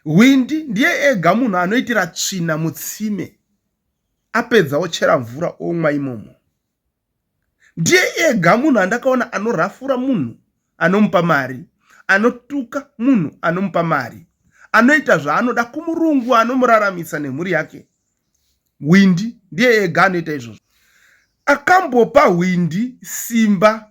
Hwindi ndiye ega munhu anoitira tsvina mutsime apedza ochera mvura omwa imomo. Ndiye ega munhu andakaona anorafura munhu anomupa mari, anotuka munhu anomupa mari, anoita zvaanoda kumurungu anomuraramisa nemhuri yake. Hwindi ndiye ega anoita izvozvo. Akambopa hwindi simba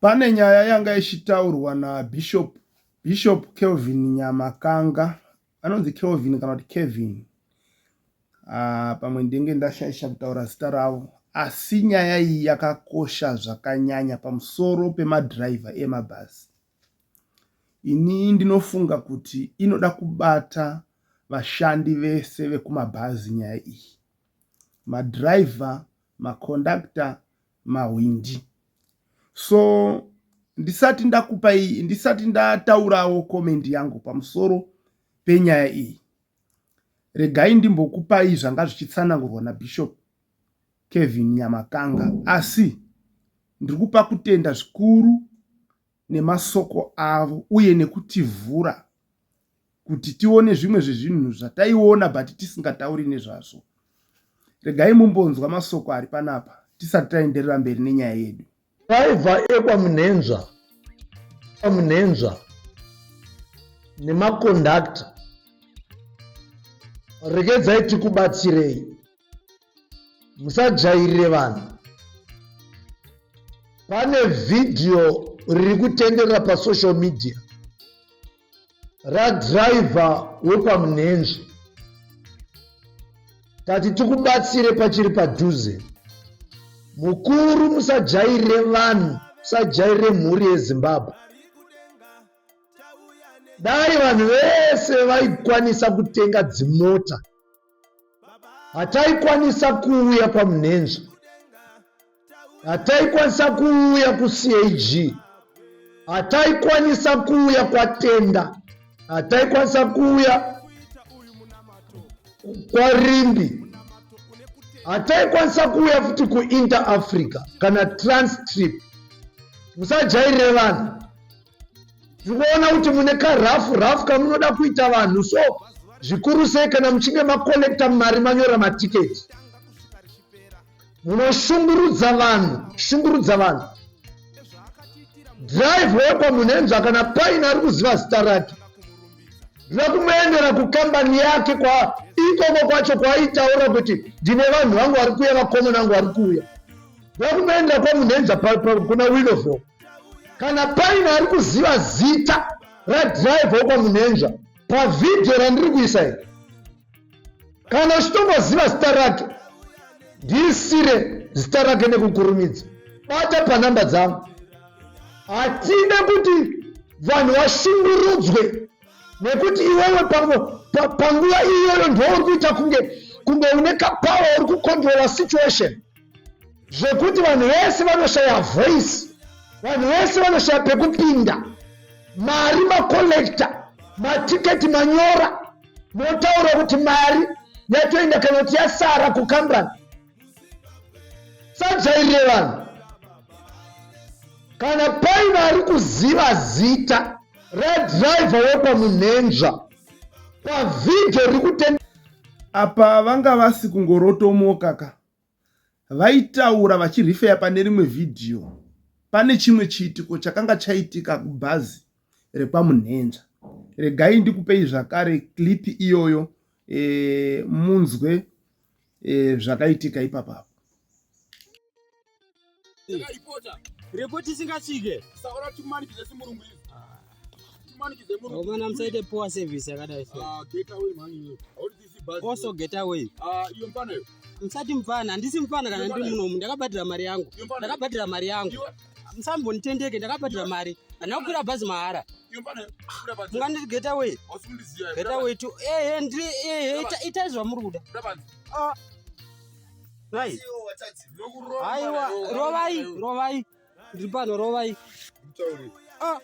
Pane nyaya yanga ichitaurwa naBishop Bishop Kelvin Nyamakanga anonzi Kelvin kana kuti Kevin ah, pamwe ndenge ndashaisha kutaura zita ravo asi nyaya iyi yakakosha zvakanyanya pamusoro pemadhiraivha emabhazi ini ndinofunga kuti inoda kubata vashandi vese vekumabhazi nyaya iyi madhiraivha makondakta mahwindi so ndisati ndakupa iyi ndisati ndataurawo comment yangu pamusoro penyaya iyi regai ndimbokupai zvanga zvichitsanangurwa nabishop kevin nyamakanga asi ndiri kupa kutenda zvikuru nemasoko avo uye nekutivhura kuti tione zvimwe zvezvinhu zvataiona but tisingatauri nezvazvo regai mumbonzwa masoko ari panapa tisati taenderera mberi nenyaya yedu driver ekwamunhenzva kwamunhenzva nemakondakta regedzai tikubatsirei musajairire vanhu pane vhidhiyo riri kutenderera pasocial media radhiraivha wekwamunenzvi tati tikubatsire pachiri padhuze mukuru musajairire vanhu musajairire mhuri yezimbabwe dai vanhu vese vaikwanisa kutenga dzimota hataikwanisa kuuya kwamunhenzva hataikwanisa kuuya kucag hataikwanisa kuuya kwatenda hataikwanisa kuuya kwarimbi hataikwanisa kuuya futi kuinter africa kana transtrip musajairire vanhu tikuona kuti mune karafu rafu kamunoda kuita vanhu so zvikuru sei kana muchinge makolekta mari manyora matiketi munoshungurudza vanhu shungurudza vanhu drive wekwa munhenzva kana paine ari kuziva zita rake ndoda kumuendera kukambani yake kwa ikoko kwacho kwaaitaura kuti ndine vanhu vangu vari kuuya vakomana vangu vari kuuya ndoda kumuendera kwamunhenza kuna winovho kana paine ari kuziva zita radriver wekwamunhenja pavhidhiyo randiri kuisa iri kana uchitongoziva zita rake ndiisire zita rake nekukurumidza bata panhamba dzangu hatide kuti vanhu vashungurudzwe nekuti iwewe panguva iyoyo ndouri kuita kunge kunge une kapawa uri kucontrola situation zvekuti vanhu vese vanoshaya voice vanhu vese vanoshaya pekupinda mari macollecta matiketi manyora motaura kuti mari yatoenda kana kuti yasara kukambani sajairire vanhu kana paine ari kuziva zita radriver wepamunhenzva pavhidho rikutenda apa vanga vasi kungorotomoka ka Vaitaura vachirifeya pane rimwe vhidhiyo pane chimwe chiitiko chakanga chaitika kubhazi rekwaMunhenza. Regai ndikupei zvakare clip iyoyo e, munzwe e, zvakaitika ipapapo. Report isingasvike. Saura timanikidze simurungu izvi. Ah. Timanikidze murungu. Vana musaite poor service yakadai so. Ah, get away mhani iwe. Hauri tisi bus. Also get away. Ah, iyo mpana iyo. Musati mpana, handisi mpana kana ndiri munomu. Ndakabhadhira mari yangu. Ndakabhadhira mari yangu. Musambonitendeke, ndakabhadhira mari. Handina kukwira bhazi mahara. Munganditi get away. Get away to. Eh, eh, ndri eh, eh, ita izvamuri kuda. Ah. Dai. Aiwa, rovai, rovai. Ndiri pano rovai. Ah.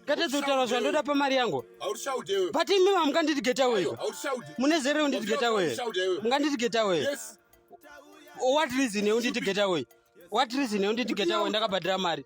Kata dzotara zvandoda pamari yangu. Haushaudewe. But imi mukanditi get away. Haushaude. Mune zero unditi get away. Mukanditi get away. Yes. What reason unditi get away? What reason unditi get away ndakabhadhira mari?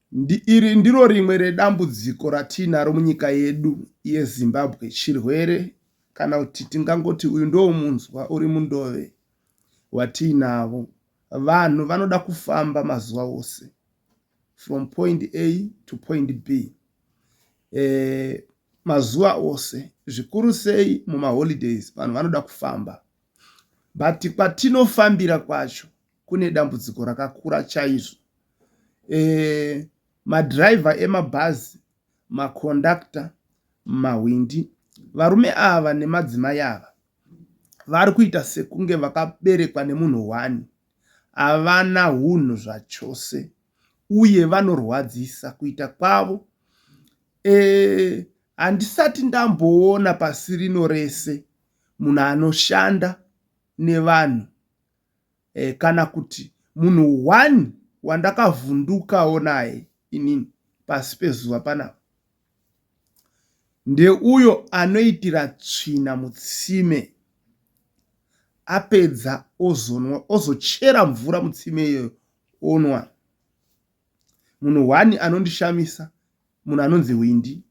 Iri ndiro rimwe redambudziko ratiinaro munyika yedu yeZimbabwe, chirwere kana kuti tingangoti uyu ndomunzwa uri mundove watiinavo. Vanhu vanoda kufamba mazuva ose from point A to point B eh, mazuva ose zvikuru sei mumaholidays vanhu vanoda kufamba but kwatinofambira kwacho kune dambudziko rakakura chaizvo madhiraivha emabhazi, makondakita, mahwindi. Varume ava nemadzimai ava vari kuita sekunge vakaberekwa nemunhu hwani. Havana hunhu zvachose uye vanorwadzisa kuita kwavo. Handisati ndamboona pasi rino rese munhu anoshanda nevanhu. eh, kana kuti munhu one wandakavhundukawo naye inini pasi pezuva panapa ndeuyo anoitira tsvina mutsime apedza ozonwa ozochera mvura mutsime iyoyo onwa munhu one anondishamisa munhu anonzi windi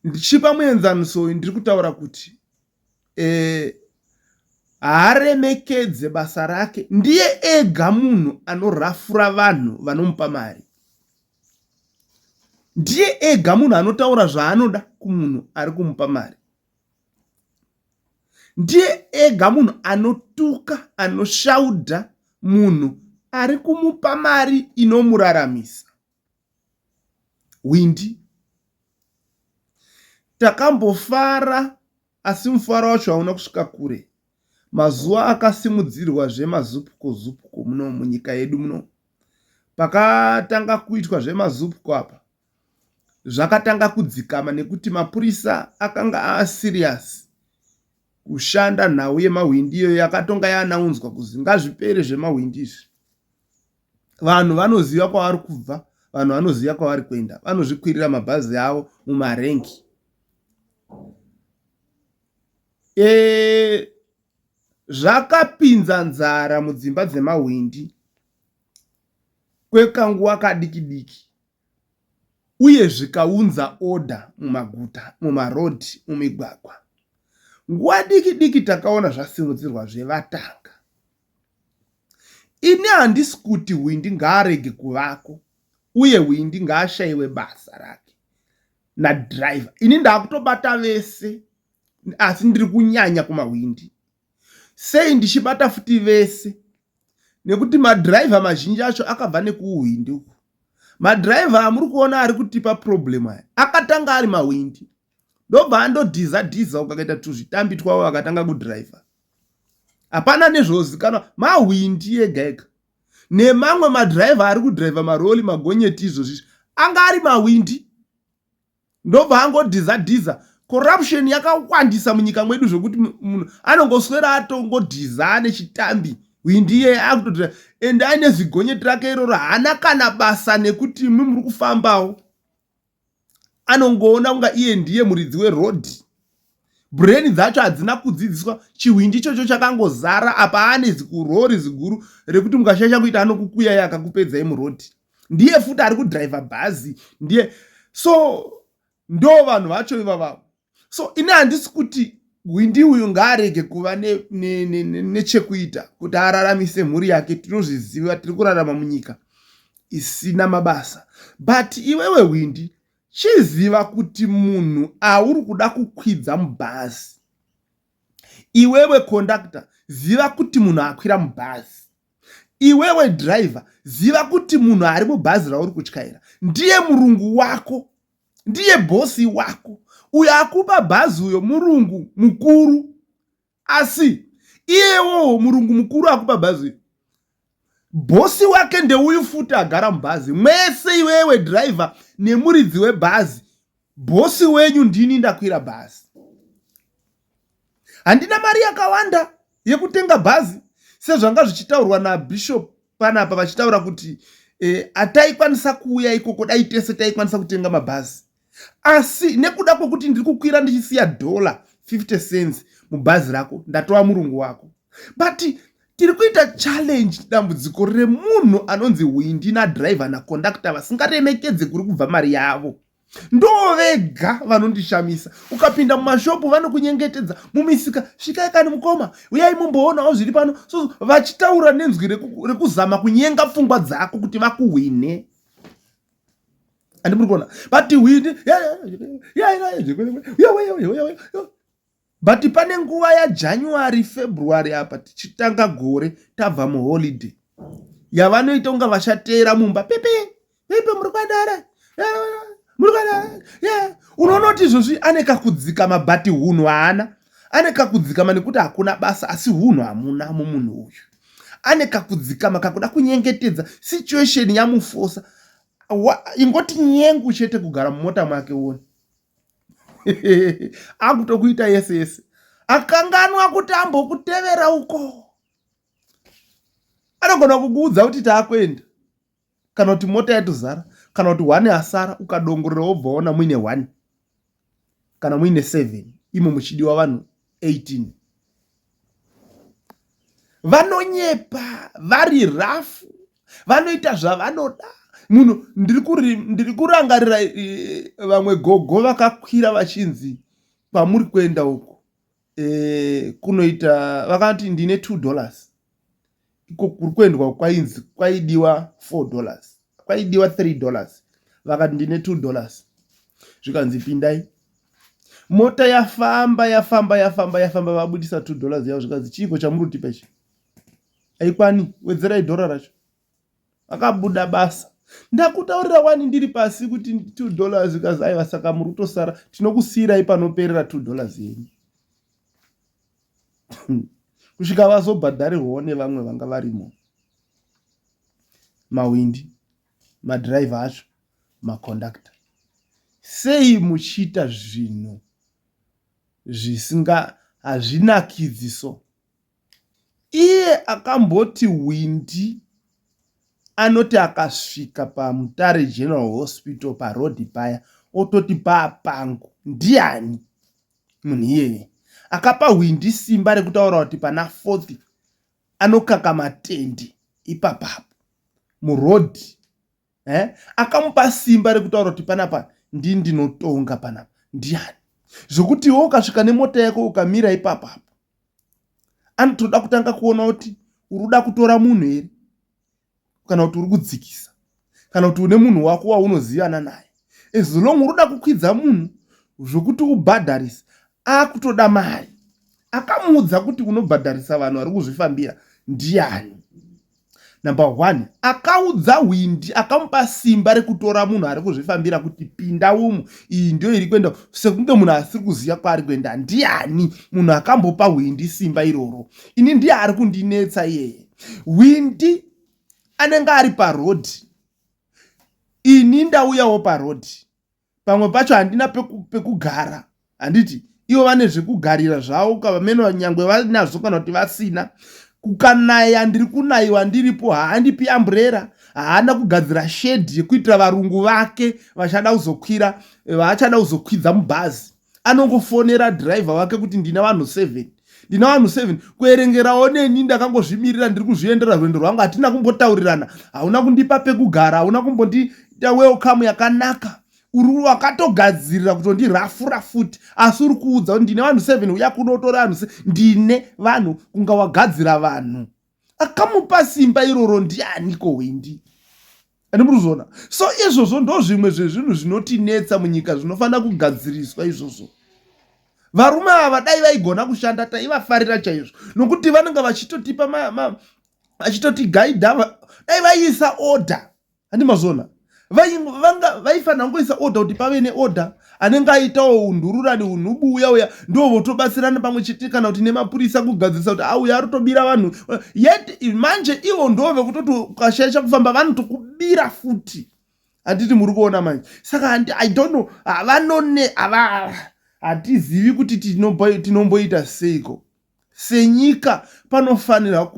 ndichipa muenzaniso uyu ndiri kutaura kuti haaremekedze basa rake ndiye ega munhu anorafura vanhu vanomupa mari ndiye ega munhu anotaura zvaanoda kumunhu ari kumupa mari ndiye ega munhu anotuka anoshaudha munhu ari kumupa mari inomuraramisa hwindi. Takambofara asi mufaro wacho hauna kusvika kure. Mazuva akasimudzirwa zvemazupko zupko muno munyika yedu muno. Pakatanga kuitwa zvemazupko apa zvakatanga kudzikama nekuti mapurisa akanga aasiriyasi kushanda nhau yemahwindi iyo yakatonga yaanaunzwa kuzi ngazvipere zvemahwindi izvi. Vanhu vanoziva kwavari kubva, vanhu vanoziva kwavari kuenda. Vanozvikwirira mabhazi avo mumarengi zvakapinza nzara mudzimba dzemahwindi kwekanguva kadiki diki. uye zvikaunza order mumaguta, mumaroad, mumigwagwa. Nguva diki diki takaona zvasimudzirwa zvevatanga. Ini handisi kuti hwindi ngaarege kuvako uye hwindi ngaashaiwe basa rake nadriver. Ini ndakutobata vese asi ndiri kunyanya kumahwindi. Sei ndichibata futi vese? Nekuti madhiraivha mazhinji acho akabva nekuuhwindi uku. Madhiraivha amuri kuona ari kutipa problem aya akatanga ari mahwindi ndobva andodhiza dhiza ukakaita tuzvitambi twavo vakatanga kudhiraivha. Hapana nezvozikanwa mahwindi ega ega nemamwe madhiraivha ari kudhiraivha maroli magonyeti izvozvi anga ari mahwindi ndobva angodhiza dhiza corruption yakawandisa munyika mwedu zvekuti munhu anongoswera atongodhiza ane chitambi hwindiye akutotora ende aine zigonyeti rake iroro haana kana basa nekuti imwi muri kufambawo anongoona kunga iye ndiye muridzi werodhi breni dzacho hadzina kudzidziswa chihwindi ichocho chakangozara apa ane zikurori ziguru rekuti mukashaisha kuita anokukuyai akakupedzai murodhi ndiye futi ari kudriver bhazi ndiye so ndo vanhu vacho ivavavo so ini handisi kuti hwindi uyu ngaarege kuva nechekuita ne, ne, ne kuti araramise mhuri yake tinozviziva tiri kurarama munyika isina mabasa but iwewe hwindi chiziva kuti munhu auri kuda kukwidza mubhazi iwewe kondakta ziva kuti munhu akwira mubhazi iwewe driver ziva kuti munhu ari mubhazi rauri kutyaira ndiye murungu wako ndiye bhosi wako uyo akupa bhazi uyo murungu mukuru asi iyewowo murungu mukuru akupa bhazi uyo bhosi wake ndeuyu futi agara mubhazi mwese iwewe driver nemuridzi webhazi bhosi wenyu ndini ndakwira bhazi handina mari yakawanda yekutenga bhazi sezvanga zvichitaurwa nabishop panapa vachitaura kuti eh, ataikwanisa kuuya ikoko dai tese taikwanisa kutenga mabhazi asi nekuda kwekuti ndiri kukwira ndichisiya dollar 50 cents mubhazi rako ndatova murungu wako but tiri kuita challenge dambudziko remunhu anonzi hwindi nadriver naconductor vasingaremekedze kuri kubva mari yavo ndovega vanondishamisa ukapinda mumashopu vanokunyengetedza mumisika svikai kani mukoma uyai mumboonawo zviri pano so vachitaura nenzwi rekuzama kunyenga pfungwa dzako kuti vakuhwine andimuri kuona but hwini But pane nguva yaJanuary February apa tichitanga gore tabva muholiday yavanoita kunga vachateera mumba pepe pepe muri kwadara muri kwadara unoona kuti izvozvi ane kakudzikama but hunhu haana ane kakudzikama nekuti hakuna basa asi hunhu hamuna mumunhu uyu ane kakudzikama kakuda kunyengetedza situation yamufosa ingoti nyengu chete kugara mumota mwake woni akutokuita yese yese akanganwa kuti ambokutevera uko anogona kukuudza kuti taakuenda kana kuti mota yatozara kana kuti one asara ukadongorera wobvaona muine one kana muine seven imo muchidiwa vanhu 18 vanonyepa vari rafu vanoita zvavanoda munhu ndiri kurangarira eh, vamwe gogo vakakwira vachinzi kwamuri kuenda uku eh, kunoita vakati ndine two dollars iko kuri kuendwa kwainzi kwaidiwa four dollars kwaidiwa three dollars vakati ndine two dollars zvikanzi pindai mota yafamba yafamba yafamba yafamba vabudisa two dollars yavo zvikanzi chiiko chamuri kutipa ichi aikwani wedzerai dhora racho akabuda basa ndakutaurira wani ndiri pasi kuti two dollars kazi aiva saka muri kutosara tinokusiyirai panoperera two dollars yenyu kusvika vazobhadharirwawo nevamwe vanga varimo mawindi madhiraivha acho makondakta sei muchiita zvinhu zvisinga hazvinakidziso Iye akamboti hwindi anoti akasvika paMutare General Hospital paroad paya ototi paa pangu ndiani munhu iyeye. Akapa hwindi simba rekutaura kuti pana fourth anokaka matende ipapapo muroad. eh? akamupa simba rekutaura kuti panapa ndi ndinotonga panapa ndiani zvekuti iwe ukasvika nemota yako ukamira ipapo apo anotoda kutanga kuona kuti uri uda kutora munhu here kana kuti uri kudzikisa kana kuti une munhu wako waunozivana naye as long uri uda kukwidza munhu zvekuti ubhadharisa akutoda mari akamuudza kuti unobhadharisa vanhu vari kuzvifambira ndiani number one akaudza hwindi akamupa simba rekutora munhu ari kuzvifambira kuti pinda umu iyi ndiyo iri kuenda sekunge munhu asiri kuziva kwaari kuenda ndiani munhu akambopa hwindi simba iroro ini ndiye ari kundinetsa iyeye hwindi anenge ari parodi ini ndauyawo parodi pamwe pacho handina pekugara peku handiti ivo vane zvekugarira zvavo kavamene vanyangwe vanazvo kana kuti vasina kukanaya ndiri kunayiwa ndiripo haandipi amburera haana kugadzira shedhi yekuitira varungu vake vachada kuzokwira eh, vaachada kuzokwidza mubhazi anongofonera driver wake kuti ndina vanhu seven ndina vanhu seven kuerengerawo neni ndakangozvimirira ndiri kuzviendera rwendo rwangu hatina kumbotaurirana hauna kundipa pekugara hauna kumbondiita welcome yakanaka uri wakatogadzirira kuti ndirafura futi asi uri kuudza kuti ndine vanhu seven uya kunotora vanhu ndine vanhu kunga wagadzira vanhu akamupa simba iroro ndianiko hwindi ane muruzona so izvozvo ndo zvimwe zvezvinhu zvinotinetsa munyika zvinofanira kugadziriswa izvozvo varume ava dai vaigona kushanda taivafarira chaizvo nokuti vanenge vachitotipa vachitotigaidha dai vaiisa order handi mazona vaifanira kungoisa order kuti pave neorder anenge aitawo undururani unhubu uya uya ndo votobatsirana pamwe chete kana kuti nemapurisa kugadzirisa kuti auya ari tobira vanhu yet manje ivo ndo vekutoti ukashaisha kufamba vanotokubira futi handiti muri kuona manje saka handi i don't know havanone hatizivi kuti tinomboita seiko Senyika panofanirwa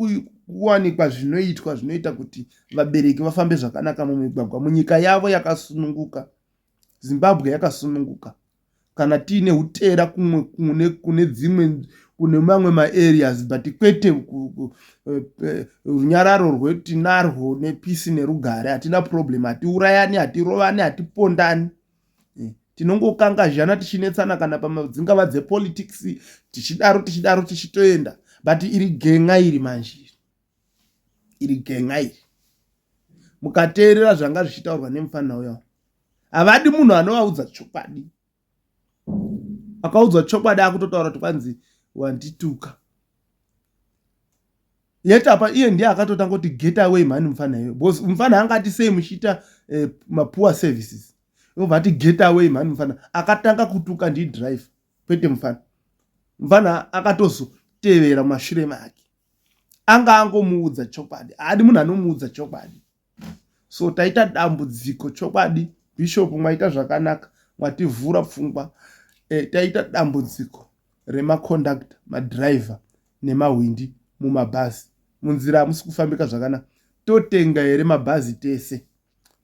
kuwanikwa zvinoitwa zvinoita kuti vabereki vafambe zvakanaka mumigwagwa munyika yavo yakasununguka zimbabwe yakasununguka kana tiine utera kumwe kune kune dzimwe kune mamwe maareas but kwete eh, eh, runyararo rwetinarwo nepisi nerugare hatina problem hatiurayani hatirovani hatipondani eh, tinongokangazhana tichinetsana kana pamadzingava dzepolitics tichidaro tichidaro tichitoenda but iri genga iri manje iri genga iri mukateerera zvanga zvichitaurwa nemufanira uya havadi munhu anovaudza chokwadi akaudzwa chokwadi akutotaura kuti kwanzi wandituka yet apa iye ndiye akatotanga kuti get away mhani mufana iwe because mufana anga ati sei muchiita eh, mapoor services obva ati get away mhani mufana akatanga kutuka ndi drive kwete mufana mufana akatozotevera mashure make anga angomuudza chokwadi haadi munhu anomuudza chokwadi so taita dambudziko chokwadi bishop mwaita zvakanaka mwativhura pfungwa e, taita dambudziko remacondactor madriver nemahwindi mumabhazi munzira hamusi kufambika zvakanaka totenga here mabhazi tese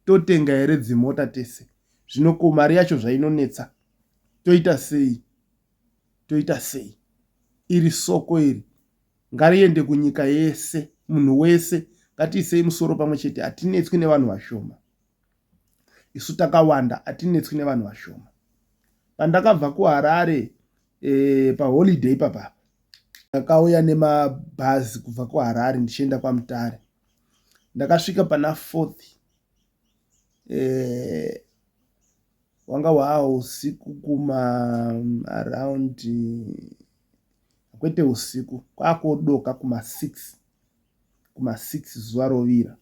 totenga here dzimota tese zvino ko mari yacho zvainonetsa toita sei toita sei iri soko iri Ngariende kunyika yese, munhu wese ngatiisei musoro pamwe chete, hatinetswi nevanhu vashoma. Isu takawanda, hatinetswi nevanhu vashoma. Pandakabva kuHarare eh, paholiday ipapa ndakauya nemabhazi kubva kuHarare ndichienda kwaMutare. Ndakasvika pana fourth eh, wanga hwaa usiku kuma around kwete usiku kwakodoka kuma 6 kuma 6 zuva rovira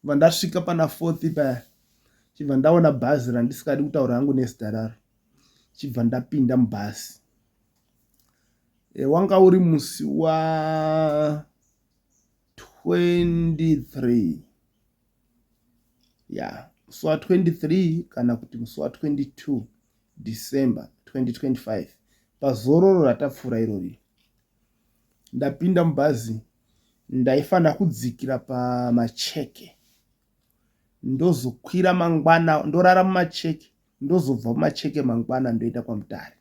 bva ndasvika pana 4 paya chibva ndaona bhazi randisikadi kutaura hangu nezita raro chibva ndapinda mubhazi e, wanga uri musi wa 23 yeah musi wa 23 kana kuti musi wa 22 december 2025 pazororo ratapfuura irori ndapinda mubhazi ndaifanira kudzikira pamacheke ndozokwira mangwana ndorara mumacheke ndozobva mumacheke mangwana ndoenda kwamutare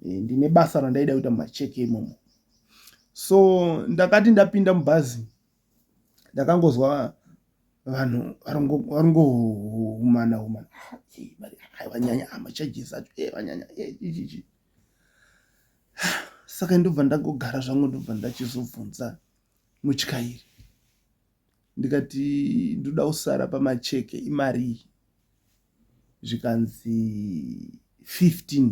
e, ndine basa randaida kuita mumacheke imomo so ndakati ndapinda mubhazi ndakangozwa vanhu varingohumana humana vanyanya machages acho e vanyanya ichichi saka ndobva ndangogara zvangu ndobva ndachizobvunza mutyairi ndikati ndoda kusara pamacheke imarii zvikanzi 15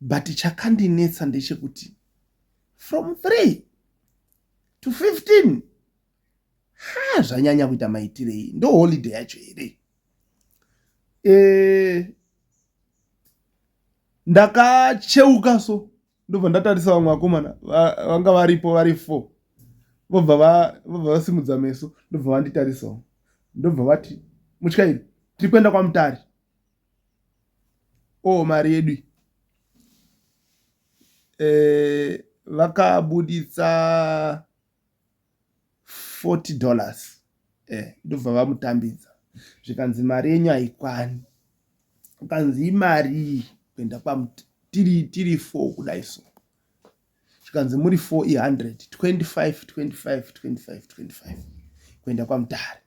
but chakandinetsa ndechekuti from 3 to 15 ha zvanyanya kuita maitirei ndo holiday yacho here e, ndakacheuka so ndobva ndatarisa vamwe vakomana vanga varipo vari four vobva vasimudza va meso ndobva vanditarisawo ndobva vati mutyairi tiri kuenda kwamutari Ohh mari yedu iyi eeh vakabuditsa forty dollars eeh ndobva vamutambidza zvikanzi mari yenyu hayikwani zvikanzi imarii kuenda kwaMt tiri four kudai so. zvikanzi muri 4 i100 25 25 25 25 kuenda kwamutare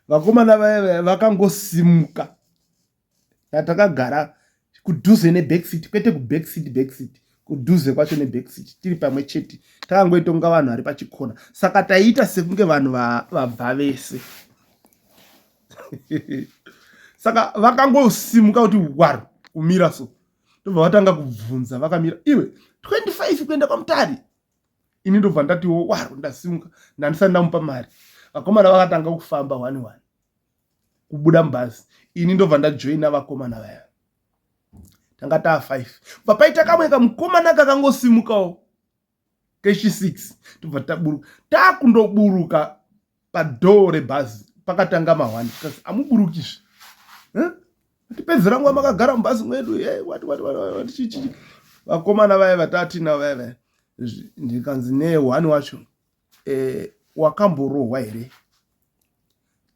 vakomana vaya vakangosimuka natakagara kudhuze nebackseat kwete kubackseat backseat kudhuze kwacho nebackseat tiri pamwe chete takangoitonga vanhu vari pachikona saka taiita sekunge vanhu vabva vese saka vakangosimuka kuti waro kumira so ndobva vatanga kubvunza vakamira iwe 25 kuenda kwamutari ini ndobva ndatiwo waro ndasimuka ndandisati ndamupa mari vakomana vakatanga kufamba one one kubuda mubhazi ini ndobva ndajoina vakomana vaya tanga taa five bva paita kamwe kamukomana kakangosimukawo keshi 6 tobva taburuka takundoburuka padhoo rebhazi pakatanga mahwani kasi amuburukizve tipedzera nguva makagara mubhazi mwedu chichii vakomana vaya vatatina vaya vaya ndikanzi nehwani wacho eh, wakamborohwa here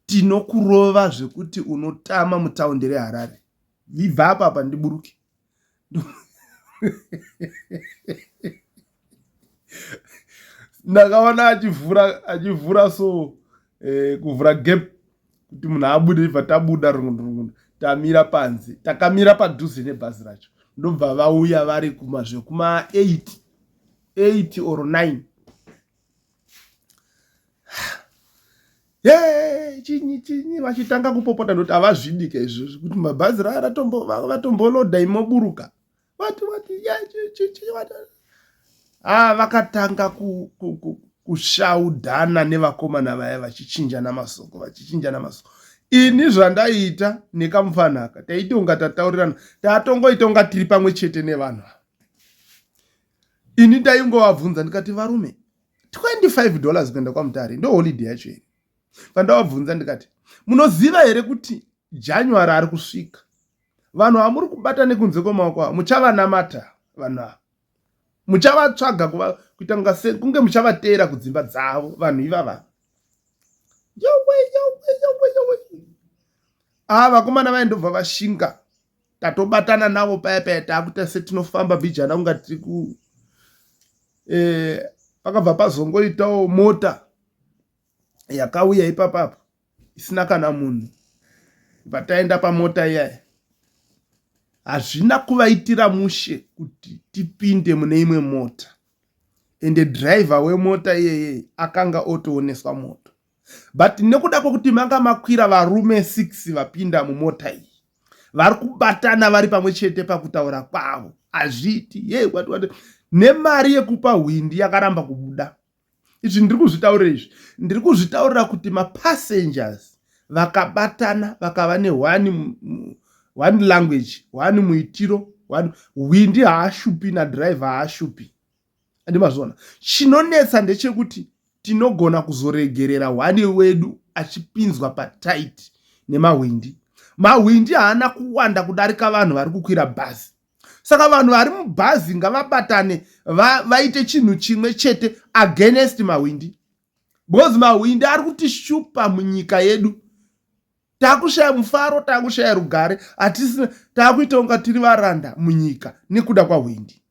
tinokurova zvekuti unotama mutaundi reharare vibva apapa ndiburuke ndakaona achivhura achivhura so eh, kuvhura gap kuti munhu abude ibva tabuda rungundu tamira panze takamira padhuze nebhazi racho ndobva vauya vari kumazvekuma 8 8 or 9 Hey, chinyi chinyi vachitanga kupopota noti havazvidike izvozvi kuti mabhazi raya vatomboloda imoburuka vati vati ah, vakatanga ku, ku, ku, kushaudhana nevakomana vaya vachichinjana masoko vachichinjana masoko ini zvandaiita nekamufanaka taitonga tataurirana tatongoita unga tiri pamwe chete nevanhu ini ndaingovabvunza ndikati varume 25 dollars kuenda kwamutare ndoholiday yacho here pandavabvunza ndikati munoziva here kuti january ari kusvika vanhu vamuri kubata nekunze kwemaoko avo muchavanamata vanhu ava muchavatsvaga kuita kunga se kunge muchavateera kudzimba dzavo vanhu ivava yowe yowe yowe yowe ava vakomana vaindobva vashinga tatobatana navo paya paya takuita setinofamba vijana kunga tiri ku eh, pakabva pazongoitawo mota yakauya ipapapo isina kana munhu pataenda pamota iyaya hazvina kuvaitira mushe kuti tipinde mune imwe mota ende driver wemota iyeye akanga otooneswa moto but nekuda kwekuti manga makwira varume 6 vapinda mumota iyi vari kubatana vari pamwe chete pakutaura kwavo hazviiti ye wati wati nemari yekupa hwindi yakaramba kubuda izvi ndiri kuzvitaurira izvi ndiri kuzvitaurira kuti mapassengers vakabatana vakava neone one language one muitiro one hwindi haashupi nadriver haashupi andi mazviona chinonetsa ndechekuti tinogona kuzoregerera hwani wedu achipinzwa pataiti nemahwindi mahwindi haana kuwanda kudarika vanhu vari kukwira bhazi saka vanhu vari mubhazi ngavabatane vaite chinhu chimwe chete against mahwindi because mahwindi ari kutishupa munyika yedu takushaya mufaro takushaya rugare hatisina takuita kunga tiri varanda munyika nekuda kwahwindi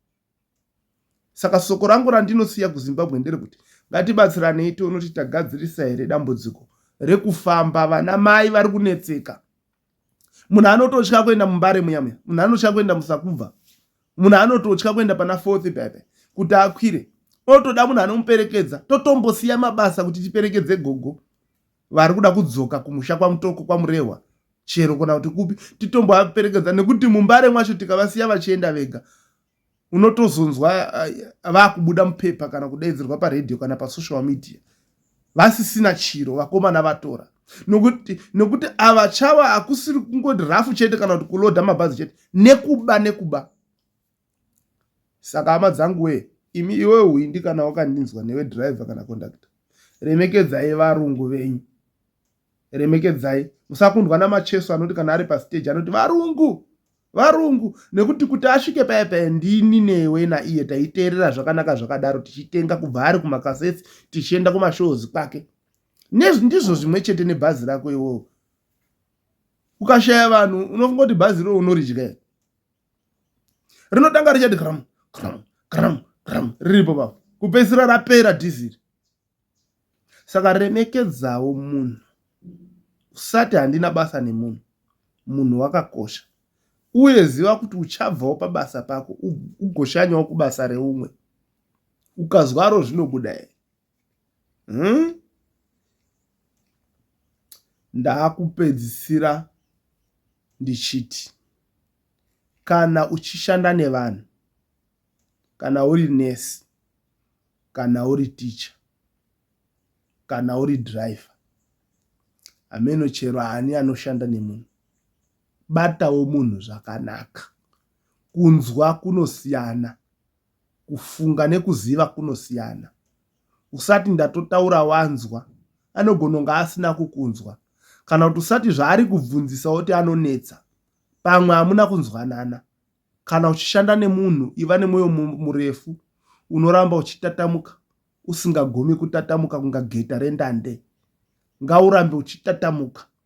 saka soko rangu randinosiya kuzimbabwe nderekuti ngatibatsiranei tione kuti tagadzirisa here dambudziko rekufamba vana mai vari kunetseka munhu anototya kuenda mumbare muya muya munhu anotya kuenda musakubva munhu anototya kuenda pana fourth pepe kuti akwire otoda munhu anomuperekedza totombosiya mabasa kuti tiperekedze gogo vari kuda kudzoka kumusha kwamutoko kwamurehwa chero kana kuti kupi titombovaperekedza nekuti mumbare mwacho tikavasiya vachienda vega unotozonzwa eh, vakubuda mupepa kana kudaidzirwa paredhiyo kana pasocial media vasisina chiro vakomana vatora nokuti nokuti ava chava hakusiri kungoti rafu chete kana kuti kuloda mabhazi chete nekuba nekuba Saka hama dzangu wee imi iwewe hwindi kana wakandinzwa newe driver kana conductor remekedzai varungu venyu remekedzai musakundwa namacheso anoti kana ari pastage anoti varungu varungu nekuti kuti asvike paye paye ndini newe naiye taiteerera zvakanaka zvakadaro tichitenga kubva ari kumakasesi tichienda kumashows kwake nezvi ndizvo zvimwe chete nebhazi rako iwowo ukashaya vanhu unofungoti bhazi roo unoridya rinotanga richati gram gram gram gram riripo papa kupedzisira rapera dhiziri saka remekedzawo munhu usati handina basa nemunhu munhu wakakosha uye ziva kuti uchabvawo pabasa pako ugoshanyawo kubasa reumwe ukazwaro zvinobuda here umm ndakupedzisira ndichiti kana uchishanda nevanhu kana uri nurse kana uri teacher kana uri driver hameno chero ani anoshanda nemunhu batawo munhu zvakanaka kunzwa kunosiyana. Kufunga nekuziva kunosiyana. Usati ndatotaura wanzwa, anogona kunge asina kukunzwa. Kana kuti usati zvaari kubvunzisa woti anonetsa, pamwe hamuna kunzwanana. Kana uchishanda nemunhu, iva nemwoyo murefu unoramba uchitatamuka usingagomi kutatamuka kunga geta rendande. Ngaurambe uchitatamuka.